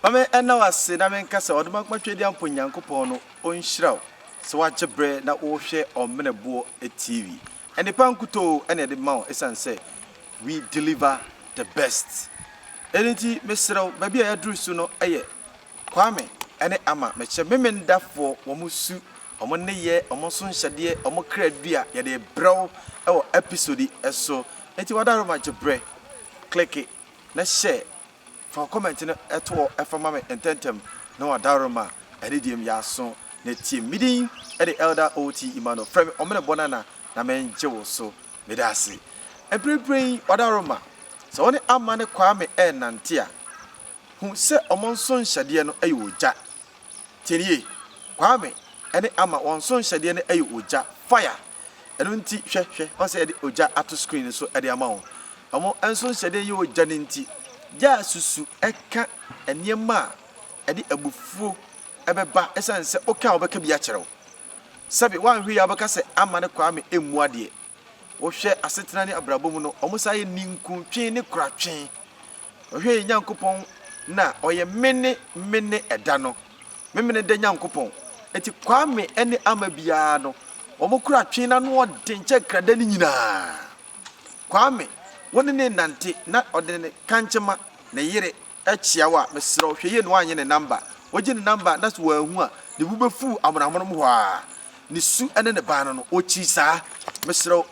Ma me nna wo ase na me nka sɛ Ɔdomankoma Tweaduampɔ Nyankopɔn no ɔnhyira wo sɛ woagye berɛ na worehwɛ Ɔmene Boɔ TV. Nnepa nkutoo na yɛde ma wo ɛsiane sɛ we deliver the best. Ɛno nti mesrɛ wo, baabi a yɛaduru so no yɛ Kwame ne Ama mekyɛ me Mendafoɔ wɔn su, wɔn nneyɛɛ, wɔn nsonhyɛdeɛ, wɔn kra dua yɛde rebrɛ wo wɔ episode yi so nti wada hɔ ma gye berɛ click na share fa wo comment no to hɔ fa ma me ntɛntɛm na wada hɔ ma anidie mu yɛaso na atie mu medin de Elder OT Emmanuel frɛ me Ɔmene Bɔnana na mengye wo so meda ase mprempren wada hɔ ma sɛ wo ne Ama ne Kwame ɛrenante a Hu sɛ wɔn nsonhyɛdeɛ no yɛ ogya. Tie no yie. Kwame ne Ama, wɔn nsonhyɛdeɛ no yɛ ogya, fire. Ɛno nti, hwɛ, hwɛ, wɔn sɛ yɛde ogya ato screen no so de ama wo. Wɔn nsonhyɛdeɛ yɛ ogya no nti, gya a susu ka nneɛma a ɛde abufuo bɛba ɛsiane sɛ woka a wɔbɛka bi akyerɛ wo. Sɛbe, woanhwɛ yie a wobɛka sɛ Ama ne Kwame mmu adeɛ. wɔhwɛ asetena ne abrabɔ mu no, wɔsan yɛ ninkuntwe ne koratwe. Wɔhwɛ yɛn Nyankopɔn no a, ɔyɛ Mene, Mene da no, Memeneda Nyankopɔn. Enti Kwame ne Ama biara no, wɔn koratwe no ano yɛ den kyɛn krada no nyinaa. Kwame, wo ne no renante na ɔde ne kankyema, ne yere, kyia wo a, mesrɛ wo hwɛ yie na woanyɛ ne namba. Wogye ne namba na sɛ wanhu a, ne bo bɛfuw amonoamonom hɔ ara. Ne su ne ne baa no no, ɔkyiri saa. Mesrɛ wo,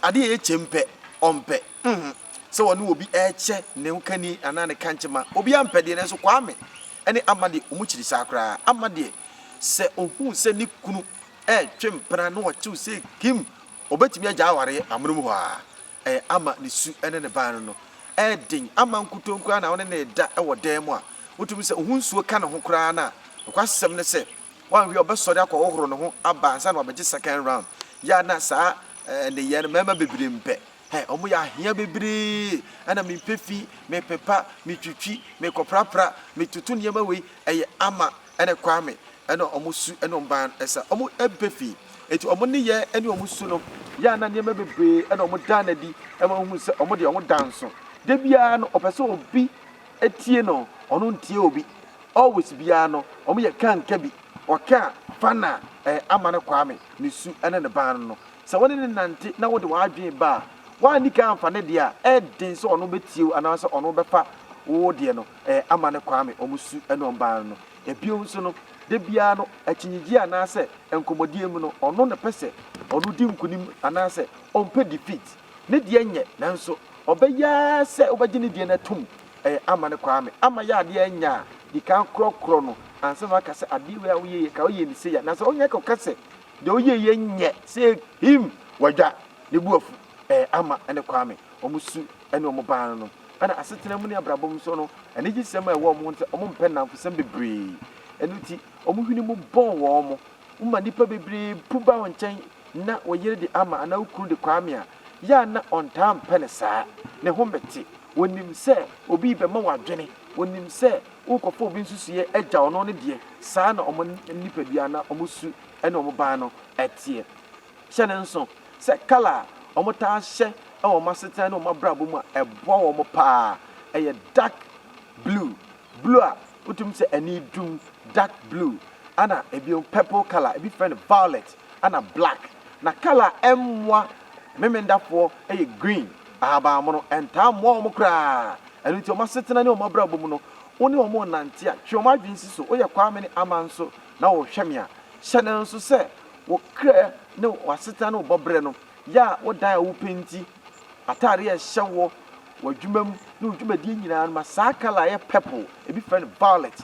adeɛ a ɛyɛ kyɛm pɛ, ɔmpɛ. Nhun sɛ ɔne obi rekyɛ ne ho kani anaa ne kankyema. Obiara mpɛ deɛ, nanso Kwame ne Amma deɛ, wɔkyiri saa koraa. Amma deɛ, sɛ ɔhu sɛ ne kunu retwe mpena na ɔtew sei kim, ɔbɛtumi agyae awareɛ amonom hɔ ara. Ɛyɛ ama ne su ne ne ban no no. Ɛyɛ den ama nkutoo koraa na wo ne no reda wɔ dan mu a, wotumi sɛ ohu nsuo ka ne ho koraa no a, nokwasɛm ne sɛ, woanhwɛ a ɔbɛsɔre akɔhohoro ne ho aba ansa na wabɛgye second round. Yɛ a na saa nneyɛɛ no mmarima bebree mpɛ. Hɛ, wɔyɛ ahea bebree, ɛna mepɛ fi, mepepa, metwitwi, mekɔprapra, metoto nneɛma wei. Ɛyɛ ama ɛne Kwame ɛna ɔmo su ɛne ɔmo ban ɛsa ɔmo ɛbɛ fi eti ɔmo ne yɛ ɛne ɔmo su no yɛ ana nneɛma bebree ɛna ɔmo daa no adi ɛma ohun sɛ ɔmo deɛ ɔmo da nso da biara no ɔpɛ sɛ obi ɛtie no ɔno ntie obi always biara no ɔmo yɛ ka nka bi ɔka fa na ɛɛ ama ne Kwame ne su ɛne ne ban no sɛ wɔne ne nante na wode w'adwene ba a woanni ka anfa ne deɛ a ɛɛden sɛ ɔno bɛtie wo anaasɛ ɔno bɛfa wo deɛ no. eh, ama no Kwame, wɔn su ne wɔn ban no. Bio nso no, da biara no, akyinnyegyeɛ anaasɛ nkɔmmɔdie mu no, ɔno na ɛpɛ sɛ ɔno di nkunim anaasɛ ɔmpɛ defeat. Ne deɛ nyɛ, nanso ɔbɛyɛ ara sɛ wobɛgye ne deɛ no atom, eh, ama no Kwame. Ama yɛ adeɛ nyɛ a, di kan korɔkorɔ no ansa na woaka sɛ adeɛ wei a woyɛ yɛ, ka woyɛɛ no sei a, na sɛ ɔnyɛ ka ɔka sɛ deɛ woyɛɛ yɛ nyɛ sɛ him, wadwa ne bo afu, eh, ama no Kwame, wɔn su ne wɔn ban no. Ɛna asetena mu ne abrabɔ mu so no, anigyesɛm a ɛwɔ wɔn ho nti, wɔmpɛ nnamfosɛm bebree. Ɛno nti, wɔn hwene mu bɔn wɔn. Woma nnipa bebree pu ba wo nkyɛn na wo yere de ama anaa wo kunu de kwaame a, yɛ a na ɔntaa mpɛ no saa. Ne ho mmɛte. Ɔnim sɛ obi rebɛma wo adwene. Ɔnim sɛ worekɔfa obi nsusuiɛ agyaw no ne deɛ. Saa na wɔn nipadua anaa wɔn su ne wɔn ban no teɛ. Hyɛ no nso sɛ kala a wɔtaa hyɛ wɔ wɔn asetena ne wɔn abrabɔ mu a ɛboa wɔn paa yɛ dark blue, blue a wotumi sɛ ani dum, dark blue, ɛnna bio purple kala, ebi frɛ no violet, ɛnna black. Na kala a ɛmmoa Memendafoɔ yɛ green, ahaban mono. Ɛntaa mmoa wɔn koraa. Ɛno nti wɔn asetena ne wɔn abrabɔ mu no, wo ne wɔn renante a, twe wɔn adwene si so. Woyɛ Kwame ne Ama nso na wɔrehwɛ me a, hyɛ no nso sɛ Wo kra ne w'asetra ne wo bɔberɛ no yɛ a wodan a wopɛ nti, ataadeɛ a ɛhyɛ wo wɔ adwuma mu ne wo dwumadie nyinaa no ma saa kala a ɛyɛ purple, ebi frɛ no violet,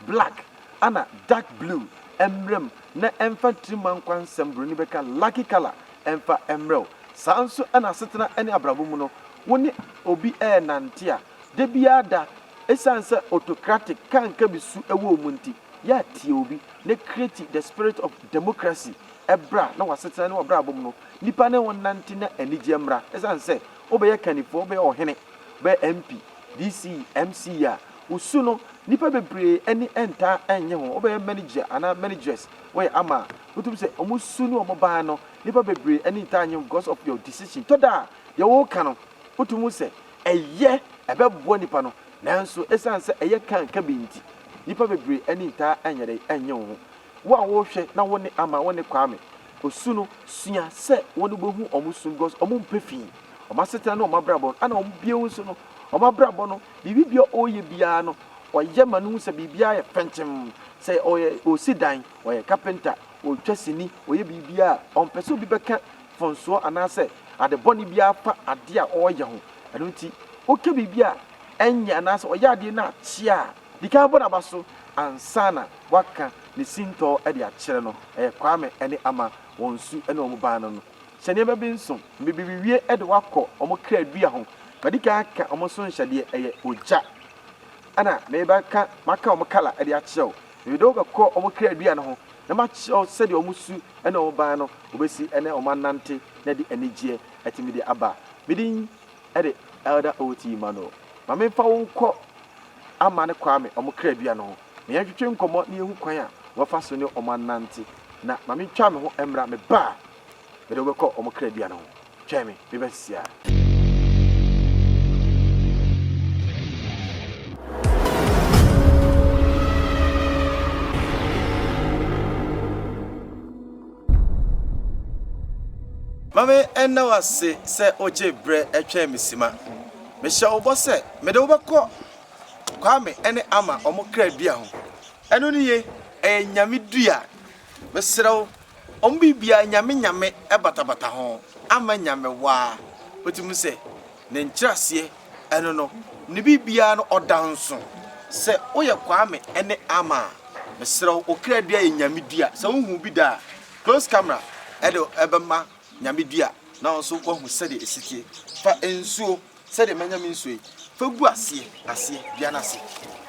black ana dark blue mmra mu na ɛmfa tirimankwa nsɛm buroni bɛka lucky kala mfa mmrɛ wo. Saa nso na asetena ne abrabɔ mu no, wo ne obi renante a, da biara da, ɛsiane sɛ autocratic, kankabi su wɔ wo mu nti, Yɛ a tie obi na create the spirit of democracy bra na w'asetena ne w'abrabɔ mu no nnipa ne wo nnante na anigyeɛ mmra. Ɛsiane sɛ wobɛyɛ kannifoɔ, wobɛyɛ ɔhene, wobɛyɛ MP, DC, MC a, wo su no nnipa bebree ani ntaa nnye ho. Wobɛyɛ manager anaa manageress woyɛ ama a, wotumi sɛ wɔn su ne wɔn ban no nnipa bebree ani ntaa nnye ho because of your decision. Tɔ da a deɛ woka no wotumi hu sɛ ɛyɛ, ɛbɛboa nnipa no Nanso esiane sɛ ɛyɛ kan ka bi nti, nnipa bebree ani ntaa nyɛ dɛ nnye wo ho. Wo a worehwɛ na wo ne Ama, wo ne Kwame, osu no, sua sɛ wɔn ani behu wɔn su no because wɔmpɛ fi. Wɔn asetena ne wɔn abrabɔ no, ɛna wɔn bio nso no, wɔn abrabɔ no, biribi biara a wɔreyɛ biara no, wɔyɛ ma no hu sɛ biribiara yɛ fɛnkyem. Sɛ ɔyɛ, ɔresi dan, ɔyɛ kapenta, ɔretwa sini, ɔyɛ biribiara a, ɔmpɛ sɛ obi bɛka mfomsoɔ anaasɛ ade bɔne biara fa adeɛ a ɔreyɛ ho. Ɛno nti, woka biribi a ɛnyɛ anaasɛ ɔyɛ adeɛ no akye a, di kan bɔ no aba so ansa na woaka ne sintɔ de akyerɛ no. Ɛyɛ Kwame ne Ama wɔn su ne wɔn baa no no. Hyɛ nneɛma bi nson. Mmebebewie de wo akɔ wɔn kra dua ho. Madi kan aka wɔn nso nhyɛdeɛ, ɛyɛ ogya, ɛna mereba ka maka wɔn kala de akyerɛ wo. Mede wo bɛkɔ wɔn kaadua no ho na makyerɛ wo sɛdeɛ wɔn su ne wɔn ban no wɔbɛsi ne wɔn anante na de anigyeɛ atumi de aba. Me din de Elder O.T. Emmanuel. Ma memfa wo nkɔ Amane Kwame wɔn kaadua no ho na yɛntwetwe nkɔmmɔ na yɛnhu kwan a wɔbɛfa so ne wɔn anante, na ma mentwa me ho mmra me ba a Mede wo bɛkɔ wɔn kra dua no ho. Twɛn me, mebɛn sesaa. Ma me nna wo ase sɛ wogye berɛ twɛn me simma. Mehyɛ wo bɔ sɛ mede wo bɛkɔ Kwame ne Ama wɔn kra dua ho. Ɛno no ye, ɛyɛ Nyame dua. Mesrɛ wo ɔmo biribiaa nyame nyame batabata ho ama nyame waa wotumi hu sɛ ne nkyerɛaseɛ ɛno no ne biribiaa no ɔda nso sɛ woyɛ kwame ɛne ama a mesrɛ wo okra dua yɛ nyame dua sɛ wohu bi da a close camera ɛde ɛbɛma Nyame dua na wo nso woahu sɛdeɛ ɛsi teɛ. Fa nsuo, sɛdeɛ manya me nsuo yi, fa gu aseɛ, aseɛ, dua no ase,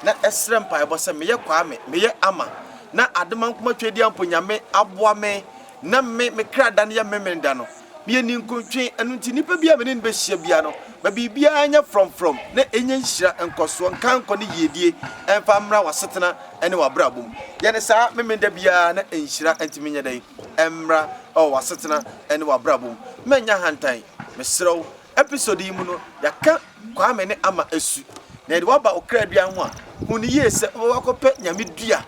na srɛ mpaebɔ sɛ, Meyɛ Kwame, meyɛ Ama, na Ademankomah Twedeɛ mpo Nyame aboa me na me, me kra da no yɛ Memeneda no. Meyɛ ninkuntwe, ɛno nti nipa biara a me ne no bɛhyia biara no, ma biribiara nyɛ frɔmfrɔm na ɛnya nhyira, nkɔsoɔ, nkankɔ ne yiedie mfa mmra w'asetena ne w'abrabɔ mu. Yɛ no saa Memeneda biara na nhyira ntumi nyɛ dɛn? Mmra. wɔ w'asetena ne w'abrabɔ mu. Manya ahantan. Mesrɛ wo, episode yi mu no, yɛaka Kwame ne Ama asu, na yɛde wo aba ɔkra dua ho a, hu no yie sɛ wobɛba akɔpɛ Nyame dua.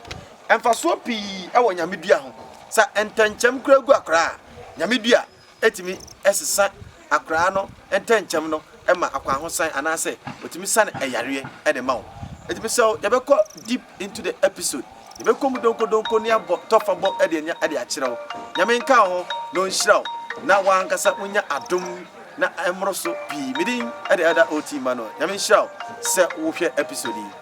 Mfasoɔ pii wɔ Nyame dua ho. Sɛ ntɛnkyɛm koraa gu akwadaa a, Nyame dua tumi sesa Akoraa no ntɛnkyɛm no ma akwahosan anaasɛ ɔtumi sane ɛyareɛ de ma wo. Nti mesrɛ wo yɛbɛkɔ deep into the episode, yɛbɛkɔ mu donko donko ne abɔ tɔfa bɔ de anya de akyerɛ wo. Nyame nka wo ho na ɔnhyira wo na wo ankasa wo nya adom na ɛmmoro so pii. Medin de Elder OT Emmanuel. Nyame nhyira wo sɛ wo hwɛ episode yi.